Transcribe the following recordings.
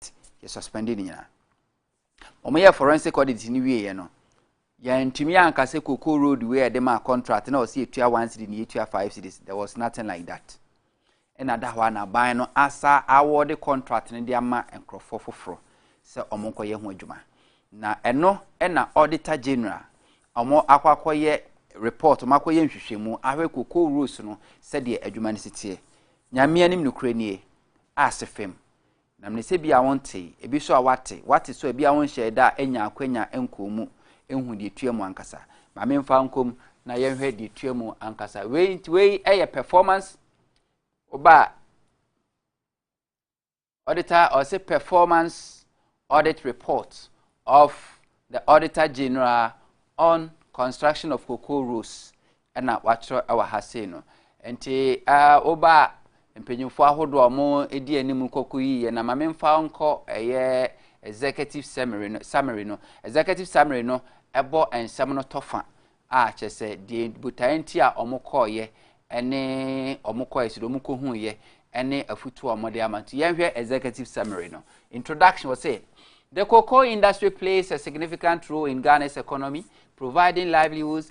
audit yɛ suspended ne nyinaa wɔn yɛ forensic audit ne wie yɛ no yɛntumi anka sɛ koko road wei a yɛde maa contract na ɔsi etua one city na etua five cities there was nothing like that ɛna da hɔ a n'aban no asa awɔde contract no de ama nkurɔfoɔ foforɔ sɛ wɔn nkɔyɛ ho adwuma na ɛno ɛna auditor general wɔn akɔ akɔyɛ report wɔn akɔyɛ nhwehwɛmu ahwɛ koko roads no sɛdeɛ adwuma no si teɛ nyamea nim nokorɛ nie ase fam Na mene sɛ bia wontee, ebi so a woate, woate so a bia wonhyɛɛ da anya akwanya nkɔɔ mu nhu deɛ ɛtua mu ankasa. Ma memfa nkɔ mu na yɛnhwɛ deɛ ɛtua mu ankasa. Wei nti wei yɛ performance woba a auditor ɔse performance audit report of the auditor general on construction of cocoa roads na wɔakyerɛw wɔ ha sei no. Enti woba a, mpanyimfo ahodoɔ a wɔdi anim nkɔko yiye na ma memfa wo nkɔ ɛyɛ executive summary no, summary no. Executive summary no bɔ nsɛm no tɔ fa a kyerɛ sɛ deɛ botaeɛ nti a wɔkɔɔyɛ ne wɔkɔɔyɛ sɛ deɛ wɔkɔhuiɛ ne afutuo a wɔde ama. Nti yɛnhwɛ executive summary no. Introduction wɔ sɛ The cocoa industry plays a significant role in Ghana's economy, providing livelihoods,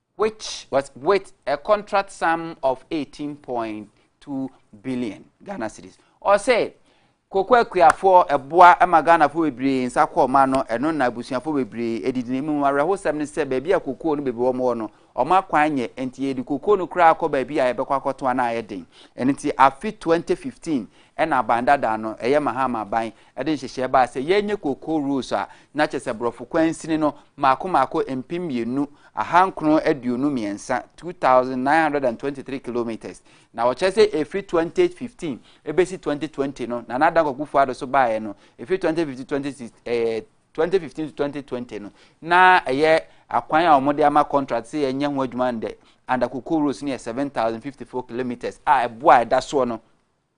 which was with a contract sum of 18.2 billion Ghana cedis. Ɔsɛ koko akuafoɔ ɛboa ɛma Ghanafoɔ bebree nsa kɔ ɔma no ɛno na abusuafoɔ bebree ɛdidi ne mu awerɛhosɛm ne sɛ baabi a koko no bebree wɔn wɔ no ɔmo akwan nyɛ nti yɛde koko no koraa kɔ baabi a yɛbɛkɔ akɔto ana ayɛ den ɛno nti afe 2015 ɛna aban dada no ɛyɛ Mahama aban Ɛde nhyehyɛɛ baa sɛ yɛnyɛ cocoa rolls a, na kyerɛ sɛ brɔfo kwansini no mmaako mmaako mpem mmienu, ahankron aduonu mmiɛnsa, two thousand nine hundred and twenty three kilometres. Na wɔkyerɛ sɛ ɛfiri twenty fifteen ɛbɛsi twenty twenty no, Nana Dankwa Akufo-Addo so baeɛ no, ɛfiri twenty fifteen twenty six ɛɛ twenty fifteen to twenty twenty no, na ɛyɛ akwan a wɔde ama contract sɛ yɛnyɛ ho adwuma no dɛ, under cocoa rolls no yɛ seven thousand fifty four kilometres a ɛboɔ a ɛda soɔ no,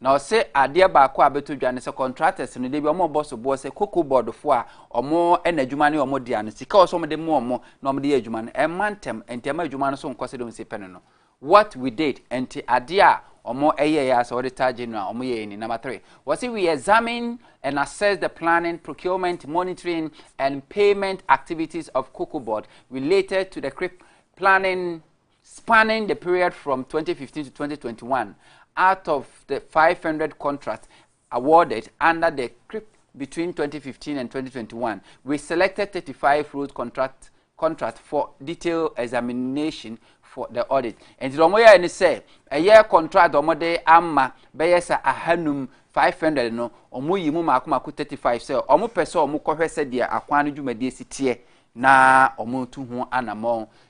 Na ɔse adeɛ baako a abɛtɔ dwa ne sɛ contractors no da bi wɔn bɔ soboɔ sɛ cocoa board foɔ a wɔn na adwuma no yɛ wɔn dea no sika a ɔsɛ wɔn de ma wɔn na wɔn de yɛ adwuma no ɛmma ntɛm nti ɛma adwuma no so nkɔ sɛ de wɔn si pɛ no no what we did nti adeɛ a wɔn ɛyɛ yɛ asɛ auditor general wɔn yɛ yɛ ni number three wɔsi we examine and assess the planning procurement monitoring and payment activities of cocoa board related to the crip planning Spanning the period from twenty fifteen to twenty twenty one, out of the five hundred contracts awarded under the CRIP between twenty fifteen and twenty twenty one, we selected thirty five road contract contract for detailed examination for the audit. Nti wɔn yɛ ne sɛ ɛyɛ contract wɔn de ama bɛyɛ sɛ ahanum five hundred no wɔn yi mu mako mako thirty five sɛ wɔn pɛ sɛ wɔn kɔhwɛ sɛ deɛ akwan no dwumadie si teɛ na wɔn tu ho anamɔn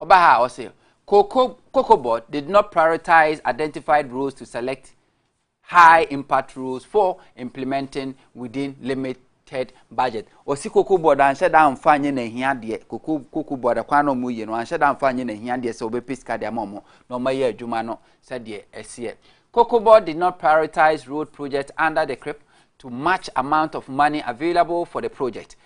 Ɔba ha a ɔse Kokobot did not prioritize identified roles to select high impact roles for implementing within limit ted budget ɔsi koko board anhyɛ da anfa nyɛ n'ahia deɛ koko koko board kwan na wɔn yie no anhyɛ da anfa nyɛ n'ahia deɛ sɛ wɔbɛpɛ sika deɛ ama wɔn na wɔn ayɛ adwuma no sɛdeɛ ɛseɛ koko board did not prioritize road project under the crip to match amount of money available for the project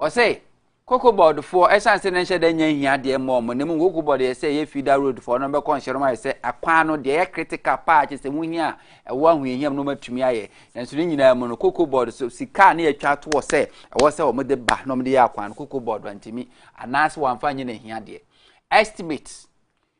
Ɔse, Koko board foɔ, ɛsiane sɛ na nhyɛ da nya nhia adeɛ mma wɔn, na mmom Koko board yɛ sɛ ɛyɛ Feeder Road foɔ, na wɔbɛkɔ nhyɛ no ayɛ sɛ akwan no deɛ ɛyɛ critical paa, kyerɛ sɛ ho hia a ɛwɔ ahohiahiam no wɔatumi ayɛ. Nanso ne nyinaa mu no, Koko board so sika a na yɛatwa ato hɔ sɛ ɛwɔ sɛ wɔde ba na wɔde yɛ akwan no, Koko board antumi anaasɛ wɔamfa nyɛ n'ahiadeɛ. Estimate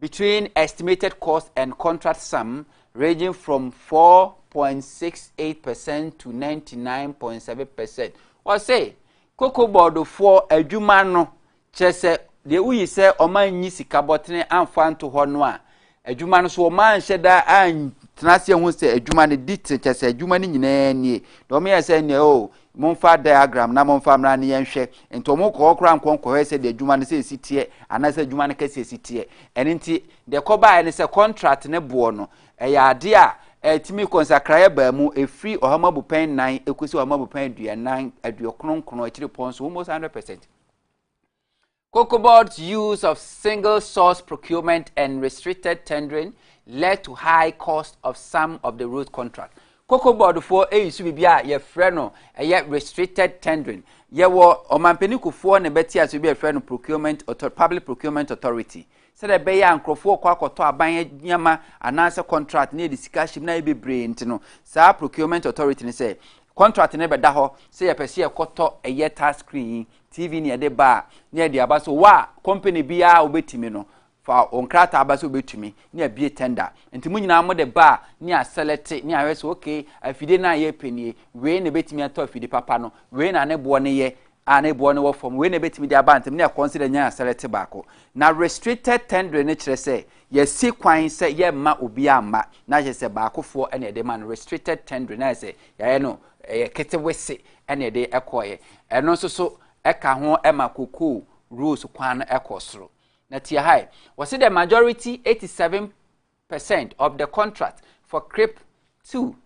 between estimated cost and contract sum ranging from four point six eight percent to ninety nine point seven percent wɔse koko bɔɔdofoɔ adwuma no kyerɛ sɛ deɛ woyi sɛ ɔma nyi sika bɔtene amfa nto hɔ no a adwuma no so ɔma nhyɛ da antena aseɛ ho sɛ adwuma no di tene kyɛ sɛ adwuma no nyinaa nie na ɔmeyɛ sɛ neɛ o Momfa diagram na momfa mmra ne yɛnhwɛ. Nti ɔmo kɔ hɔ koraa nkɔ nkɔhwɛ sɛ deɛ adwuma no sɛ esi teɛ anaasɛ adwuma no kɛseɛ si teɛ. Ɛno nti deɛ ɛkɔbaeɛ ne sɛ contract ne boɔ no ɛyɛ adeɛ a ɛtumi kɔ nsakraeɛ baa mu ɛfiri ɔhama bupɛn nnan ɛkɔsi ɔhama bupɛn aduanan aduokron nkron akyirepɔ nso almost hundred percent. Cocoa Board's use of single source procurement and restricted tendering led to high cost of some of the road contract. Cocoa Board foɔ eyi so biribi a yɛfrɛ no ɛyɛ restricted tendering. Yɛwɔ ɔmampanin kufoɔ na ɛbɛte ase bi a yɛfrɛ no procurement author public procurement authority. Sɛdeɛ ɛbɛyɛ a nkurɔfoɔ kɔ akɔtɔ aban nneɛma anaasɛ contract na yɛde sika hyɛ mu na yɛ bebree nti no saa procurement authority no sɛ contract no bɛda hɔ sɛ yɛpɛ sɛ yɛkɔtɔ ɛyɛ tax screen yi TV ne yɛde ba a, ne yɛde aba so wɔ a company biara a wobɛtumi no, fa wo nkrataa aba sɛ wobɛtumi ne abie tender. Nti mo nyinaa mo de ba a ne asɛlɛte ne ahwɛ sɛ okay afidie no a yɛpɛ nie, wei na ɛbɛtumi atɔ afidie papa no, wei na ne boɔ no yɛ a ne boɔ no wɔ fam, wei na ɛbɛtumi de aba ntɛm ne yɛ consider nya asɛlɛte baako. Na restricted tendering no kyerɛ sɛ yɛasi kwan sɛ yɛmma obiara mma na kyerɛ sɛ baakofoɔ na yɛde ma no restricted tendering na ayɛ sɛ yɛayɛ no Ɛyɛ ketewese na ɛde kɔeɛ. Ɛno nso so ɛka ho ma kokoo rose kwan no ɛkɔ soro. Na tia ha ɛ, wɔsi the majority 87 percent of the contract for CRIP 2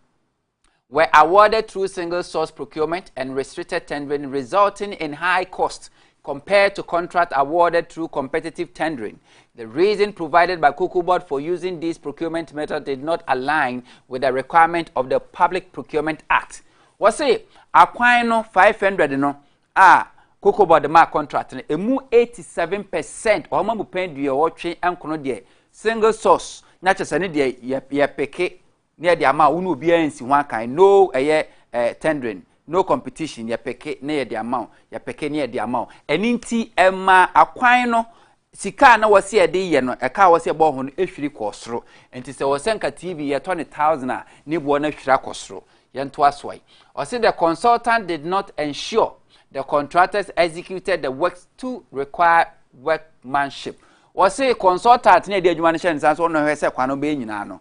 were awarded through single source procurement and restricted tendering resulting in high cost Compared to contract awarded through competitive tendering, the reason provided by Cocoa Board for using these procurement methods did not align with the requirement of the Public Procurement Act. Wɔse akwan no 500 no a Cocoa Board maa contract no, emu 87 percent wɔn amu pɛn duɔwɔtwe nkono deɛ single source na kyɛ sɛ ne deɛ yɛpeke Ne yɛde ama a wo ne obiara nsi ho akan no ɛyɛ eh, tendering no competition yɛpeke ne yɛde ama wo yɛpeke ne yɛde ama wo ɛne nti ɛma akwan no sika a na wɔsi yɛde yɛ no ɛka a wɔsi ɛbɔ ho no ehwiri kɔ soro nti sɛ wɔsɛ nka tv yɛtɔ ne thousand a ne boɔ no ahwiri akɔ soro yɛnto asoa yi ɔsi the consultant did not ensure the contractors executed the works to require workmanship wɔsi consultant ne yɛde adwuma no hyɛ ne nsa so ɔno hwɛ sɛ kwan no bɛyɛ nyinaa no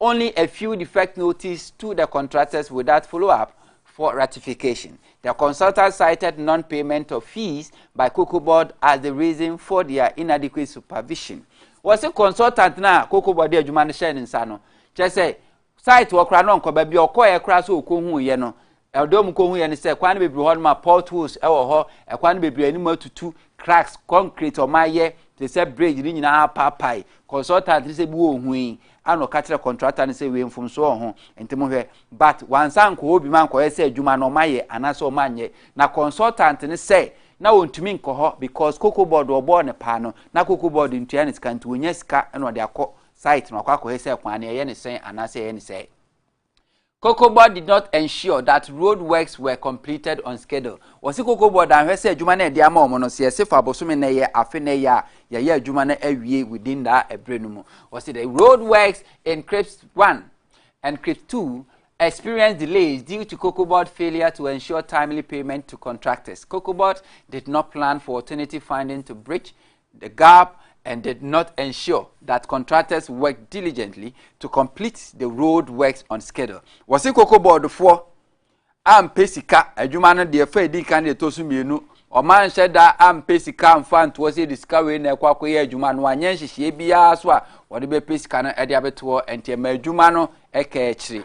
Only a few defect notices to the contractors without follow-up for ratification. The consultant cited non-payment of fees by Cocoa Board as the reason for their inadequate supervision. Wɔsi consultant na Cocoa Board de adwuma no hyɛ ne nsa no, kyerɛ sɛ site wɔ kora no nkɔba bi ɔkɔɛ kora so ɔkɔhu yɛ no Ɛdeɛ wɔn kɔ huiɛ ne sɛ kwan no bebree hɔ nom a potholes wɔ hɔ, ɛkwan no bebree anim atutu, cracks, concrete wɔn ayɛ te sɛ bridge ne nyinaa apaapae. Consultant ne sɛ bi wɔ hui a na ɔka kyerɛ contractor no sɛ wei mfomsoɔ wɔ ho nti mo hwɛ but wansa nkɔ hɔ bi ma nkɔyɛ sɛ adwuma no wɔn ayɛ anaasɛ wɔn anyɛ na consultant ne sɛ na wɔntumi nkɔ hɔ because cocoa board wɔbɔɔ ne paa no na cocoa board ntua ne sika nti wɔnya sika na ɔde akɔ site na wakɔ akɔyɛ sɛ kwan no yɛyɛ ne sɛn anaasɛ yɛyɛ ne sɛe. Cocobod did not ensure that road works were completed on schedule. Wɔsi Cocobod anhwɛ sɛ adwuma no a ɛde ama wɔn no, sɛ yɛsi fa bosome na ɛyɛ afe na ɛyɛ a, yɛyɛ adwuma no awie within that ɛbere no mu. Wɔsi the road works in Crips 1 and Crips 2 experienced delays due to Cocobod failure to ensure timely payment to contractors. Cocobod did not plan for alternative funding to bridge the gap and did not ensure that contractors worked diligently to complete the road works on schedule. Wɔsi koko bɔɔdofoɔ ampɛ sika adwuma no deɛ fɛ edi kan deɛ ɛtɔ so mmienu ɔma nhyɛ da ampɛ sika nfa ntoɔ sɛ de sika wei na ɛkɔ akɔyɛ adwuma no anyɛ nhyehyɛe biara so a wɔde bɛpɛ sika no ɛde abɛtoɔ ɛnti ɛma adwuma no ɛka akyire.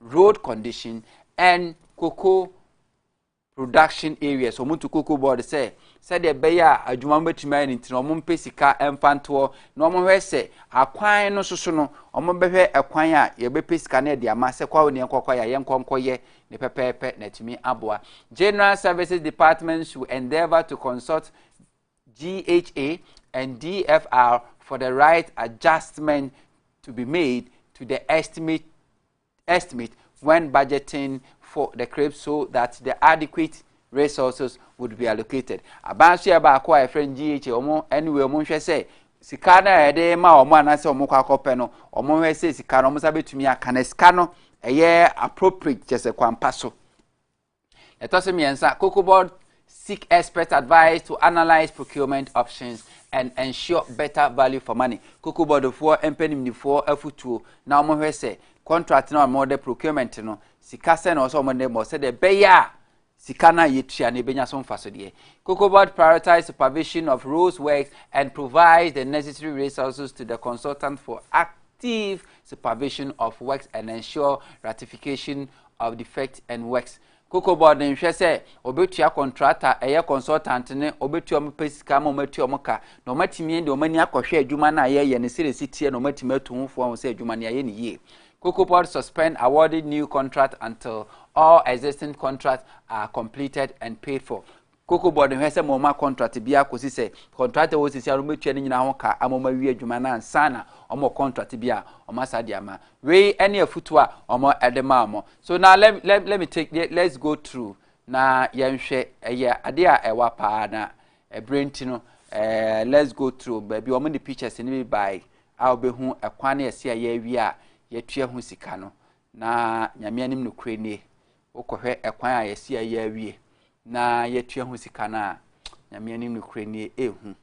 road condition and cocoa production areas wɔn to cocoa board sɛ sɛdeɛ ɛbɛyɛ a adwuma no bɛtumi ayɛ no nti na wɔn mpɛ sika mfa ntoɔ na wɔn hwɛ sɛ akwan no soso no wɔn bɛhwɛ ɛkwan a yɛbɛpɛ sika no de ama sɛ kɔ a wɔn kɔkɔ yɛ a yɛn nkɔnkɔyɛ ne pɛpɛɛpɛ na ɛtumi aboa general services department should endeavour to consult GHA and DFR for the right adjustment to be made to the estimate, estimate when budgeting for the CRIP so that the adequate resources would be allocated. Abansoɛ baako a yɛfrɛ no GHA wɔn anyway wɔn hwɛ sɛ sika no a yɛde ma wɔn anaasɛ wɔn kɔ akɔpɛ no wɔn hwɛ sɛ sika no wɔn nsa bɛtumi aka na sika no ɛyɛ appropriate kyɛ sɛ kwampa so. Ɛtɔ so mmiɛnsa, Cocoa Board seek expert advice to analyse procurement options and ensure better value for money. Cocoa Board foɔ mpɛ nimdifoɔ afutuo na wɔhwɛ sɛ contract na wɔn de procurement no sika sɛ na wɔsɛ wɔn de mɔ sɛdeɛ ɛbɛyɛ a sika no a yɛtua no ɛbɛnya so mfasodeɛ. Cocoa Board prioritize supervision of roads works and provides the necessary resources to the consultant for active supervision of works and ensure ratification of Defect and Works. Cocoa Board nhwɛ sɛ wɔbɛtua kɔntrata, ɛyɛ consultant no, wɔbɛtua wɔn pɛ sika ama wɔatua wɔn ka, na wɔatumi de wɔn ani akɔhwɛ adwuma no a yɛyɛ no sɛdeɛ ɛsi teɛ na wɔatumi atu ho fo ahu sɛ adwuma no yɛayɛ no yie. Cocoa Board suspend awarding new contract until all existing contracts are completed and paid for. Cocoa Board nhwɛ sɛ ma wɔn akɔntrate biara kɔsi sɛ kɔntrate a wɔwɔ sesia no wɔbɛtua ne nyinaa ho ka ama wɔn awie adwuma no ansa na wɔn wɔ kɔntrate bi a wɔn asa de ama. Wei ne afutuo a wɔn de maa wɔn. So na let, let, let me take, let's go through na yɛnhwɛ ɛyɛ adeɛ a ɛwa paa na ɛberɛ nti no eh, let's go through baabi wɔn de pictures no bi bae a wɔbɛhu ɛkwan ne ɛse a yɛawie a yɛtua ho sika no na nyame anim no korɛ nie Wokɔhwɛ ɛkwan a yɛse yɛayɛ awie na yɛatua ho sika no a, Nyame anim nokorɛ nie, ɛhu.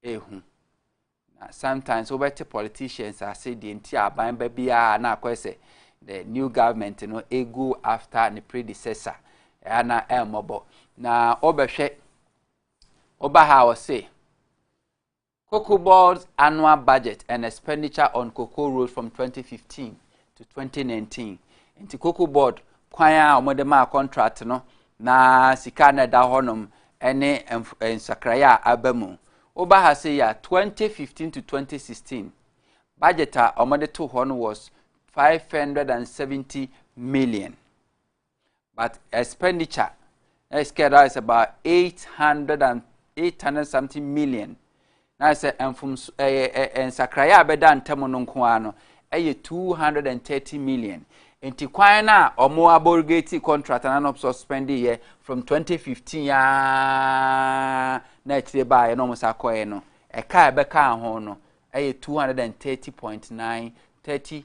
Ɛhu. Na sometimes wobɛte politicians ase deɛ nti a aban ba biara na akɔyɛ sɛ the new government no ɛgo after ne predecessor ɛa na ɛmmɔbɔ. Na wobɛhwɛ woba ha a wɔse Cocoa Board's annual budget and expenditure on cocoa rose from 2015 to 2019. Nti Cocoa Board kwan a wɔde maa contract no na sika na ɛda hɔnom ne eh, nsakraeɛ a aba mu. Woba ha sɛ yɛ 2015 to 2016 budget a wɔde to hɔ no was 570 million. but expenditure na yɛ sika ɛda is about eight hundred and eight hundred something million na yɛ sɛ mfomso ɛyɛ eh, eh, eh, nsakraeɛ a bɛda ntam no nko ara no ɛyɛ two hundred and thirty million nti kwan no a wɔn aborigate contract na wɔn suspend yɛ from twenty fifteen aa na akyire baa yɛ na wɔn sa kɔɛ no ɛka a ɛbɛka ho no ɛyɛ two hundred and thirty point nine thirty.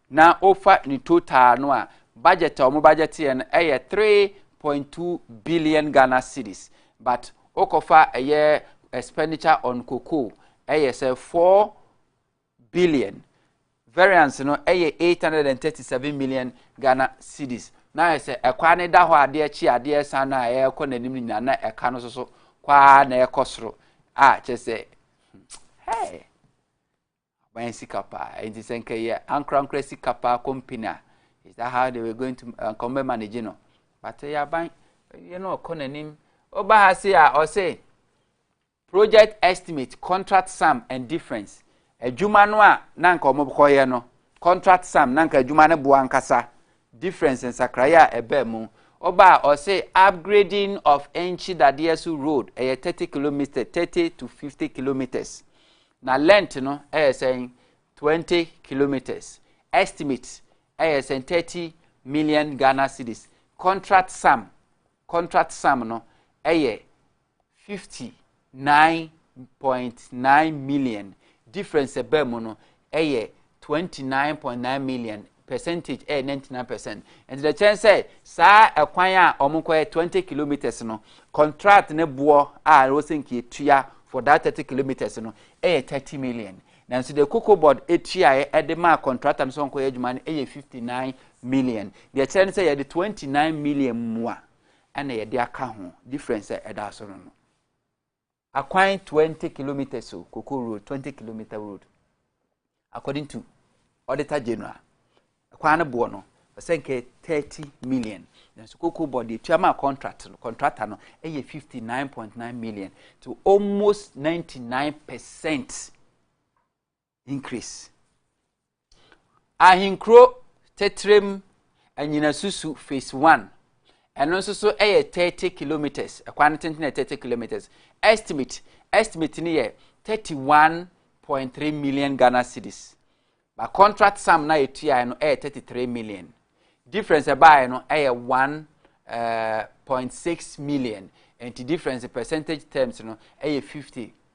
Na wofa ne total no a, budget a wɔn budgeteɛ no yɛ three point two billion Ghana cedis, but wokɔfa ɛyɛ expenditure on cocoa ɛyɛ sɛ four billion, variance no ɛyɛ eight hundred and thirty seven million Ghana cedis. Na ayɛ sɛ ɛkwan no da hɔ a adeɛ kye adeɛ san no a ɛrekɔ n'anim nyinaa na ɛka no nso so kɔ ara na ɛrekɔ soro a kyerɛ sɛ hmm, hey. Aban sika paa enti sɛ nka yɛ ankorankora sika paa company a is that how they were going to uh, nka ɔmbɛ manage no but yɛ aban yɛ no ɔkɔ n'anim ɔba ha se a ɔse project estimate contract sum and difference adwuma no a na nka ɔmobkɔyɛ no contract sum na nka adwuma no boa nkasa difference nsakraeɛ a ɛbaa mu ɔba a ɔse upgrading of ɛnkyi dadeɛ so road ɛyɛ 30 kilometres 30 to 50 kilometres Na length no yɛ sɛn? Twenty kilometres. Estimate yɛ sɛn? Thirty million Ghana cedis. Contract sum, contract sum no yɛ fifty nine point nine million. Difference a ɛbaa mu no yɛ twenty nine point nine million percentage ɛyɛ ninety nine percent nti na kyɛn sɛ saa ɛkwan a wɔn kɔ yɛ twenty kilometres no contract ne boɔ a wɔsɛ nka etua for that thirty kilometres no ɛyɛ thirty million nanso deɛ cocoa board etuaeɛ ɛde maa contractor no sɛ wɔn kɔ yɛ adwuma no ɛyɛ fifty nine million deɛ kyerɛ no sɛ yɛde twenty nine million mua ɛna yɛde aka ho difference ɛda so no no. Akwan twenty kilometres o, koko road, twenty kilometre road. According to Auditor General, kwan no boɔ no, ɔsɛ nkɛ thirty million. Nanso koko bɔ deɛ tua maa contract no, contractor no ɛyɛ fifty nine point nine million to almost ninety nine percent. increase. Ahenkuro tɛtrɛm anyinasusu phase one ɛno nso so yɛ thirty kilometres ɛkwan no tenten yɛ thirty kilometres estimate estimate no yɛ thirty one point three million ghana cedis ba contract sum na etuae no yɛ thirty three million difference ɛbaeɛ no yɛ one eh, point six million nti difference percentage terms no yɛ fifty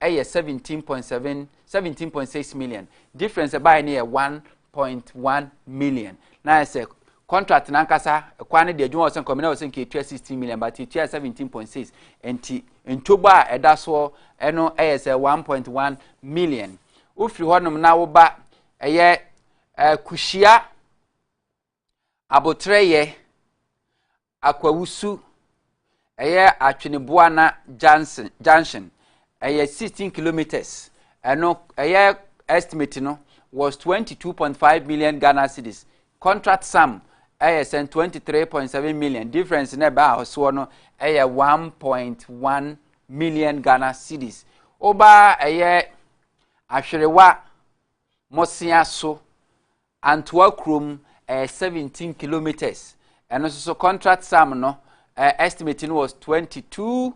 ɛyɛ seventeen point seven seventeen point six million difference ɛbaeɛ no yɛ one point one million na ayɛ sɛ contract nankasa kwan no deɛ adwuma wɔ sɛ nkɔmina wɔ sɛ nka etua sixteen million but etua seventeen point six nti ntobɔ a ɛda soɔ ɛno ɛyɛ sɛ one point one million wofiri hɔnom na woba ɛyɛ ɛɛ kuhyia abotrɛyɛ Akwawusu, ɛyɛ Atwene-Buana junction, junction, ɛyɛ 16 kilometres, ɛno ɛyɛ estimate no was 22.5 million Ghana cedis, contract sum ɛyɛ sɛn 23.7 million, difference na ɛbɛ ahosoɔ no ɛyɛ 1.1 million Ghana cedis. Woba ɛyɛ Ahwerewa Mosea so Antoa kurom ɛyɛ seventeen kilometres ɛno nso so contract sum no ɛɛ estimate no was twenty two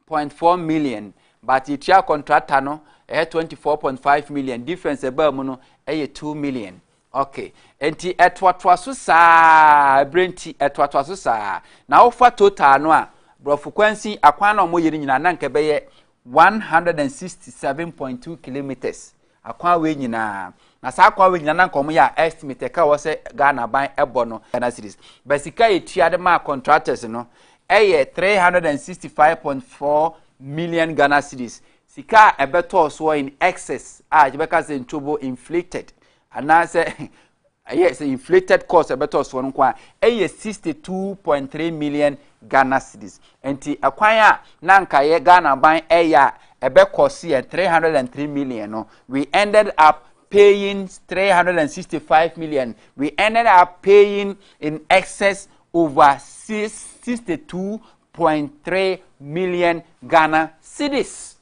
point four million but yɛtua contractor no ɛyɛ twenty four point five million difference ɛbaa mu no ɛyɛ two million okay nti ɛtoatoa so saa ɛbrɛ nti ɛtoatoa so saa na wofa total no a borɔfo kwansin akwan na wɔyɛ no nyinaa na nka ɛbɛyɛ one hundred and sixty seven point two kilometres. Akwan wei nyinaa. Na saa akwan wei nyinaa na nka wɔn yɛ a estimate ɛka wɔ sɛ Ghana ban ɛbɔ no Ghana cedis. But sika yɛ tua de maa contractors no ɛyɛ three hundred and sixty five point four million Ghana cedis. Sika a ɛbɛtɔɔ soɔ in excess a yɛbɛka sɛ ntobo inflated anaasɛ Ɛyɛ sɛ inflated cost a ɛbɛtɔ soɔ no nko a ɛyɛ sixty two point three million Ghana cedis. Nti ɛkwan a na nka yɛ Ghana ban ɛyɛ a ɛbɛkɔ so yɛ three hundred and three million no, we ended up paying three hundred and sixty five million. We ended up paying in excess over sixty two point three million Ghana cedis.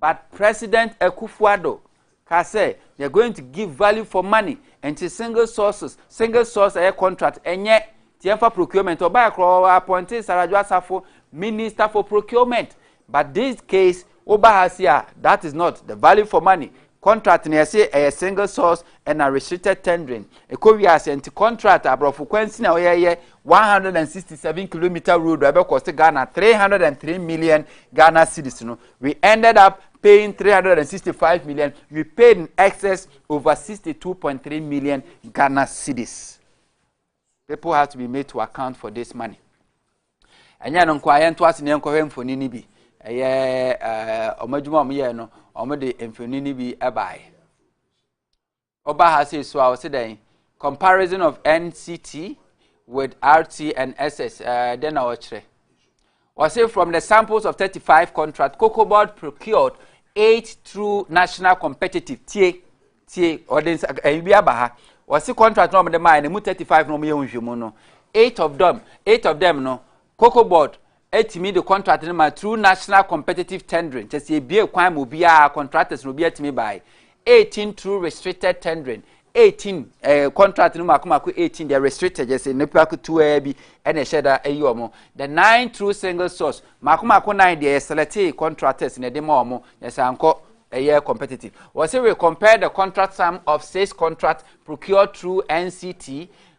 But President Akuffo Addo kaa sɛ they are going to give value for money nti single sources, single source ɛyɛ contract ɛnyɛ nti yɛmfa procurement. Ɔbaeɛ koraa ɔ appointee Saradwo Asafo minister for procurement but this case woba ha si a that is not the value for money contract na yɛse ɛyɛ single source ɛna restricted tendering ɛkɔ wiase nti contract aborɔfo kwan si na wɔyɛyɛ 167 kilometer road a ɛbɛkɔ se Ghana 303 million Ghana cedis no We ended up paying 365 million. We paid in excess over 62.3 million Ghana cedis. People have to be made to account for this money. And yet, nkwa yɛn to ase na yɛn kɔhwɛ mfoni ni bi. Ɛyɛ ɛɛ eh, wɔn adwuma wɔn yɛ no, wɔn de mfoni ni bi ɛbaeɛ. Ɔba ha sei so a ɔsi dɛn comparison of nct with rt and ss ɛɛ dɛn na ɔkyerɛ ɔsi from the samples of thirty five contract cocoa board procured eight through national competitive tie tie ɔde nsa ɛyi bi aba ha ɔsi contract na wɔn de maa yɛ na emu thirty five na wɔn yɛ nhwɛmu no eight of them eight of them no Cocoa Board tumi de contract no ma through national competitive tendering, kyerɛ sɛ yɛbue kwan ma obiara, contractors no obiara tumi bae, 18 through restricted tendering, 18 eh, contract no mako mako 18 deɛ restricted kyerɛ sɛ nipa ketewa bi ɛna ɛhyɛ da ɛyi wɔn, the nine through single source mako mako nine deɛ yɛselɛte contractors na ɛde ma wɔn, yɛ sɛ ankɔ ɛyɛ competitive. Wɔsi we compare the contract sum of six contract procured through NCT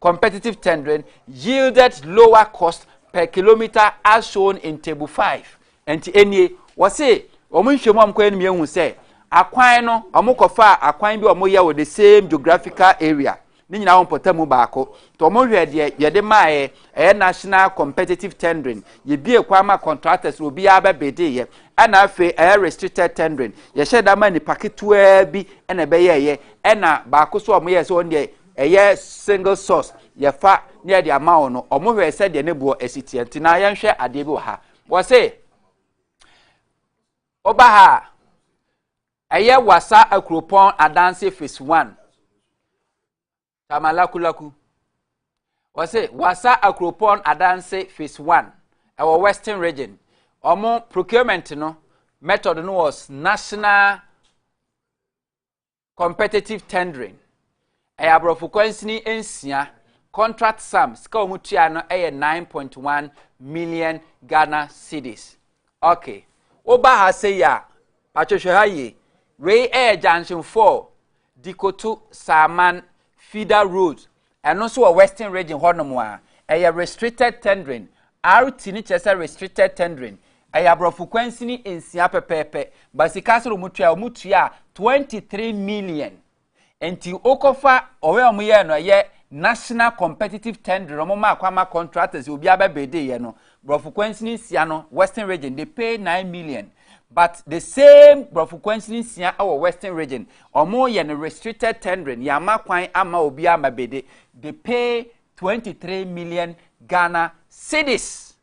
competitive tendering yielded lower cost per kilometer as shown in table five nti enie wɔsi wɔn nhwɛmu a wɔkɔyɛ no mu ehu sɛ akwan no wɔkɔfa akwan bi a wɔyɛ wɔ the same geographical area ne nyinaa wɔn pɔtɛ mu baako nti wɔn hwɛ deɛ yɛde maaɛ ɛyɛ national competitive tendering yɛbie kwan ma contractors na obiara bɛbede yɛ ɛna afei ɛyɛ restricted tendering yɛhyɛ da ma nipa ketewaa bi ɛna ɛbɛyɛɛyɛ ɛna baako so a wɔyɛ sɛ wɔn deɛ ɛyɛ single source yɛfa ne yɛde ama wɔn no wɔn hwɛ sɛdeɛ ne boɔ asi teɛ nti na yɛnhwɛ adeɛ bi wɔ ha wɔse ɔba ha a ɛyɛ wasa akuropɔn adanse phase one tamalakulaku wɔse wasa akuropɔn adanse phase one ɛwɔ western region wɔn procurement no method no was national Competitive tendering, Ɛyɛ aborɔfo kwansini nsia, contract sum, sika wɔn tua no yɛ 9.1 million Ghana cedis. Okay, woba ha sɛ yi a, patwehwɛ ha yie, wei yɛ junction 4, Dikoto, Saaman, Fida Road, Ɛno nso wɔ western region hɔnom a, ɛyɛ restricted tendering. RT no kyerɛ sɛ restricted tendering. Ɛyɛ aborɔfo kwansini nsia pɛpɛɛpɛ. Ba sika sɛ na wɔn tua, wɔn tua 23 million. Nti wokɔfa ɔyɛ wɔn yɛ no ɛyɛ national competitive tendering wɔn ma akɔ ama contractors obiara bɛ bede yɛ no. Brɔfo kwansini nsia no western region they pay nine million but the same brɔfo kwansini nsia wɔ western region ɔmo yɛ no restricted tendering yɛama kwan ama obi ama bede they pay twenty three million Ghana cedis.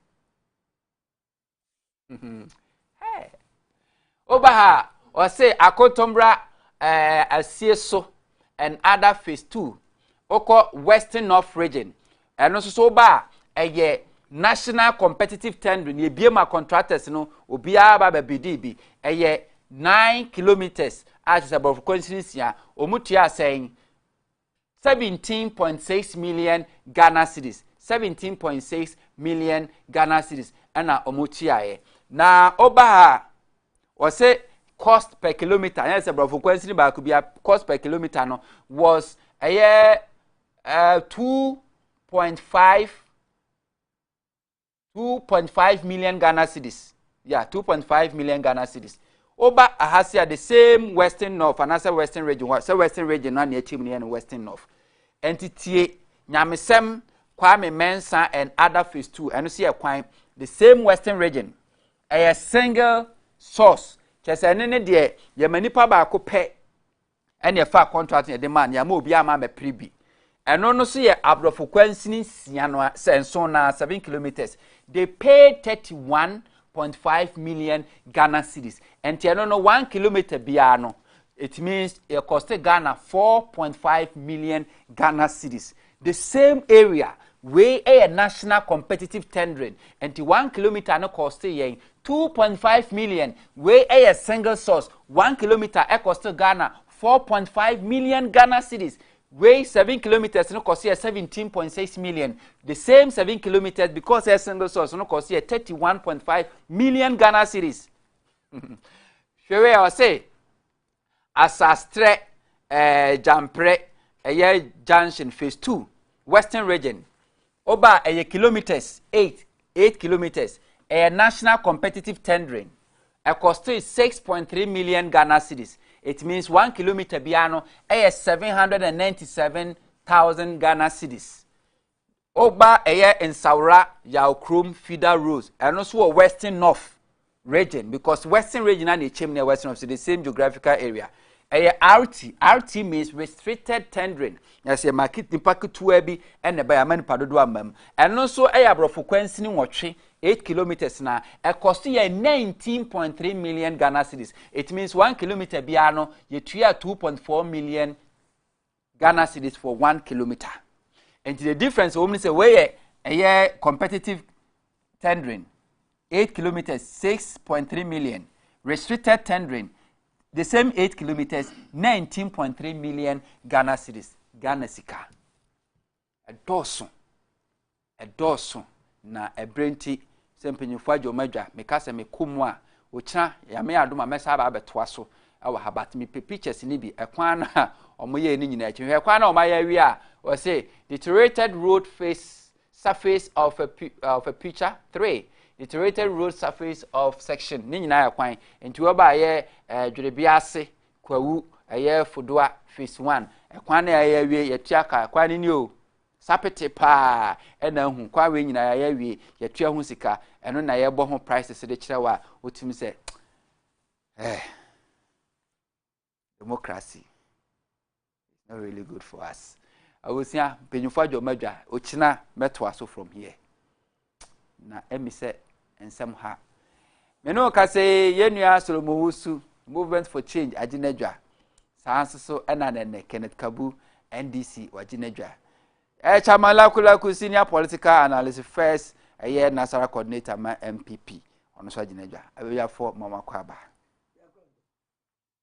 woba ha a ɔse akotombra eh, asie so and other phase two wokɔ western north region ɛno nso so woba a ɛyɛ national competitive tendering yɛbie ma contractors no obiara ba bɛbidi bi ɛyɛ nine kilometres a kyerɛ sɛ borɔfo kwanhyiri nsia wɔn tua asɛn seventeen point six million ghana cedis seventeen point six million ghana cedis ɛna wɔn tuaeɛ na ɔba ha a wɔsɛ cost per kilometre ɛna sɛ borɔfo kwansini baako bi a cost per kilometre no was ɛyɛ ɛɛ eh, two point five two point five million ghana cedis yeah two point five million ghana cedis woba aha se a the same western north anaasɛ western region hɔ sɛ western region no a nea akyim no yɛ no western north ɛnti tie nyamesɛm kwame mensa and other phase two ɛno so yɛ kwan the same western region ɛyɛ single source kyɛ sɛ ɛne ne deɛ yɛma nipa baako pɛ ɛne ɛfaa contract yɛde maa no yɛama obi ama amɛpere bi ɛno no so yɛ aborɔfo kwansini nsia no sɛ nson na seven kilometers they paid thirty one point five million ghana cedis ɛnti ɛno no one kilometer biara no it means it cost ghana four point five million ghana cedis The same area, wei yɛ national competitive tendering, nti one kilometer no kɔɔste yɛn two point five million, wei yɛ single source, one kilometer ɛkɔste Ghana four point five million Ghana cedis, wei seven kilometres no kɔste yɛ seventeen point six million, the same seven kilometres because ɛyɛ single source no kɔste yɛ thirty one point five million Ghana cedis. Hwɛ wei a ɔse Asastrɛ ɛɛ Gyamprɛ ɛyɛ junction phase two western region ɔba ɛyɛ kilometres eight eight kilometres ɛyɛ national competitive tendering ɛkɔste six point three million Ghana cedis it means one kilometre biara no ɛyɛ seven hundred and ninety seven thousand Ghana cedis Ogba ɛyɛ Nsawora Yaw kurom feeder roads ɛno nso wɔ western north region because western region na ɛkyɛm ne western north so the same geographical area ɛyɛ RT RT means restricted tendering ɛsɛ market nipa ketewa bi ɛna ɛbɛyɛ ama nipa dodoɔ ama mu ɛno nso ɛyɛ aborɔfo kwansini nwɔtwe 8 kilometers na ɛkɔ so yɛ 19.3 million Ghana cedis it means 1 kilometer biara no yɛtua 2.4 million Ghana cedis for one kilometer nti the difference wɔn mu sɛ wei yɛ ɛyɛ competitive tendering eight kilometres six point three million restricted tendering the same eight kilometres nineteen point three million Ghana cedis Ghana sika. Ɛdɔɔso, ɛdɔɔso, na ɛberɛ nti, sɛ mpanyinfoɔ agya wɔn adwa, meka sɛ mekɔ mu a, okyena, Nyame adom a, mɛsan aba abɛtoa so wɔ ha, but mepɛ pictures no bi, ɛkwan no a wɔyɛɛ no nyinaa akyi no, hwɛ kwan no a wɔayɛ awie a, wɔse, deteriorated road face, surface of a, of a picture three, deteriorated road surface of section, ne nyinaa yɛ kwan, nti wɔba ayɛ eh, dwerebea ase, Kwawu, ɛyɛ Fodoa phase one. Ɛkwan no a yɛayɛ awie, yɛtua ka. Ɛkwan no ni o, sapete paa ɛna ahu. Kwan wei nyinaa yɛayɛ awie, yɛtua ho sika. Ɛno na yɛbɔ ho prices de kyerɛ wo a wotumi sɛ eh, democracy. it's not really good for us awosua mpanyinfo adwuma adwa okyina mɛtoa so from here na ɛmi sɛ nsɛm ha mene o kasa yi yɛn nua solomon wosu movement for change agye n'adwa saa nso so ɛna nɛnɛ kenneth kabu ndc wagye n'adwa ɛɛ chairman lakulaku senior political analyst first ɛyɛ nasara coordinator ma mpp ɔno nso agye n'adwa abɛwiafoɔ mɔmɔ akɔ aba.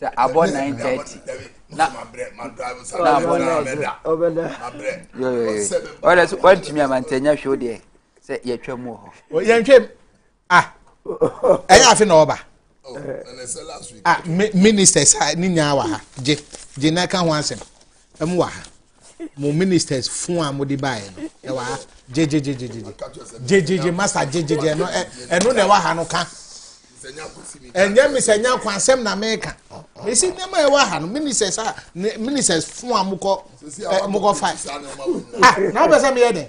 sɛ abɔ nine thirty na na abɔ nine ɔlɛ so wantumi amantanya hwɛ o deɛ sɛ yɛtwa mu wɔ hɔ. yɛntwam ah ɛyɛ afe na ɔba oh, ah ministers ne nyinaa wɔ ha gye gye na ɛka ho asɛm ɛmu wɔ ha. mo ministers fun a mo de baeɛ no ɛwɔ ha gyegyegyegyegye gyegyegye masa gyegyegye ɛno ɛno na ɛwɔ ha no ka ɛnyɛ mr nyanko asɛm na meka mesi nneɛma ɛwɔ ha no ministers a ministers fun a mo kɔ mo kɔ fa ah na wobɛ sɛ meyɛ dɛ.